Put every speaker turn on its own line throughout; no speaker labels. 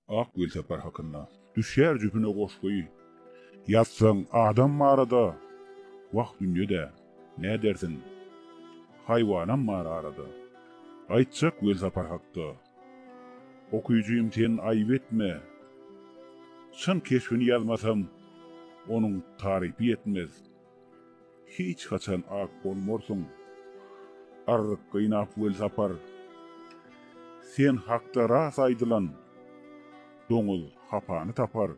Ak Welsapar hakynda. Düşýär jüpüne goşgy. Ýazsaň adam barada. Wah dünýe-de, nädersiň. Haýwanam bar arada. Aýtjak Welsapar hakda. Okyjym sen aýyp etme. Çyn keşbini ýazmasam, onuň tarypy ýetmez. Hiç haçan ak bolmarsyň. Arryk gynap Welsapar. Sen hakda ras aýdylan, Doňuz hapany tapar.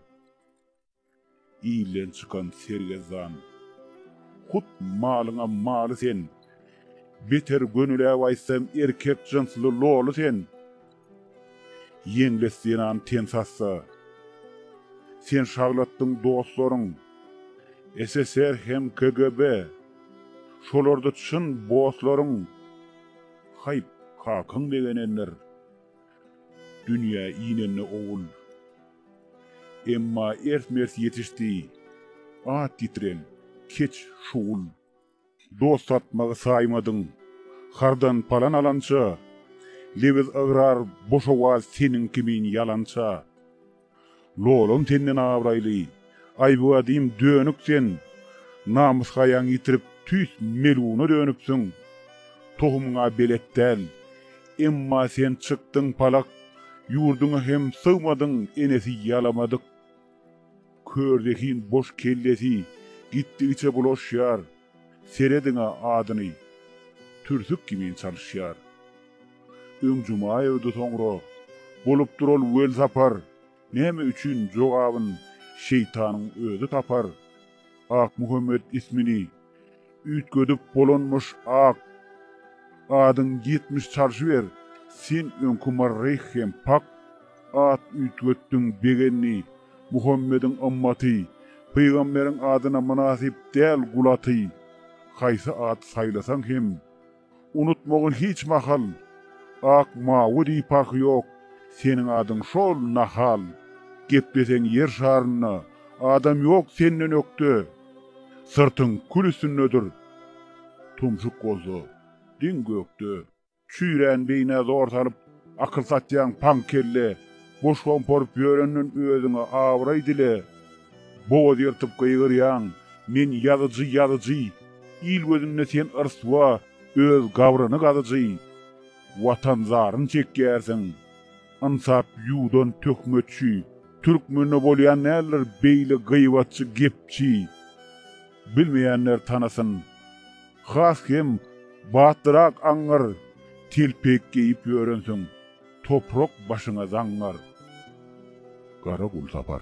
Ilden çykan sergezdan. Hut malyňa maly sen. Beter gönüläp aýtsam erkek jynsly loly sen. Ýeňles zenan ten sassa. Sen şaglatdyň dostlaryň. SSR hem KGB. Şolarda çyn bosslaryň. Haýp, kakaň begenendir. Dünýä inende owul. Emma ers-mers ýetişdi. At ýitiren, keç şugul. Dost satmagy saýmadyň, hardan palan alança, Lebiz ygrar, boş owaz seniň kimin ýalança. Lolam senden abraýly, aýbgadym dönük sen, Namys-haýaň ýitirip, tüýs meluna dönüpsiň. Tohumyň-a belet däl, emma sen çykdyň palak, Ýurduňa hem sygmadyň, enesi ýalamadyk. Kör zehin boş kellesi gitdigiçe bulaşýar, serediň-ä adyny, türsük kimin çalyşýar. Öň Jumaýewdi soňra bolupdyr ol welsapar, näme üçin jogabyn şeýtanyň özi tapar, Akmuhammet ismini Üýtgedip bolanmyş ak adyň ýetmiş çalşy ber sen öňki marryh hem pak at üýtgetdiň begenni muhammediň ymmaty pygamberiň adyna mynasyp däl gul aty haýsy at saýlasaň hem Unutmagyn hiç mahal. Ak, mawy diýip paky ýok, Seniň adyň şol, nahal. Gepleseň ýer şarynda, Adam ýok senden ökde. Syrtyň kül üstündedir, Tumşuk bolsa, diň gökde. Çüýrän beýnä zor salyp, Akyl satýaň paň kelle. Boş gomparyp ýörenden özüňe abraý dile. Bogaz ýyrtyp gygyrýaň, Men ýazyjy, ýazyjy! Il gözünde sen ryswa, öz gabryny gazyjy! Watan zaryn çekýärsiň. Ynsap ýuwdan töhmetçi. Türkmende bolýan däldir beýle gyýbatçy gepçi. Bilmeýänler tanasyn. Has hem batlyrak aňňar telpek geýip ýörensiň, toprak başyňa zaňňar. Garagulsapar.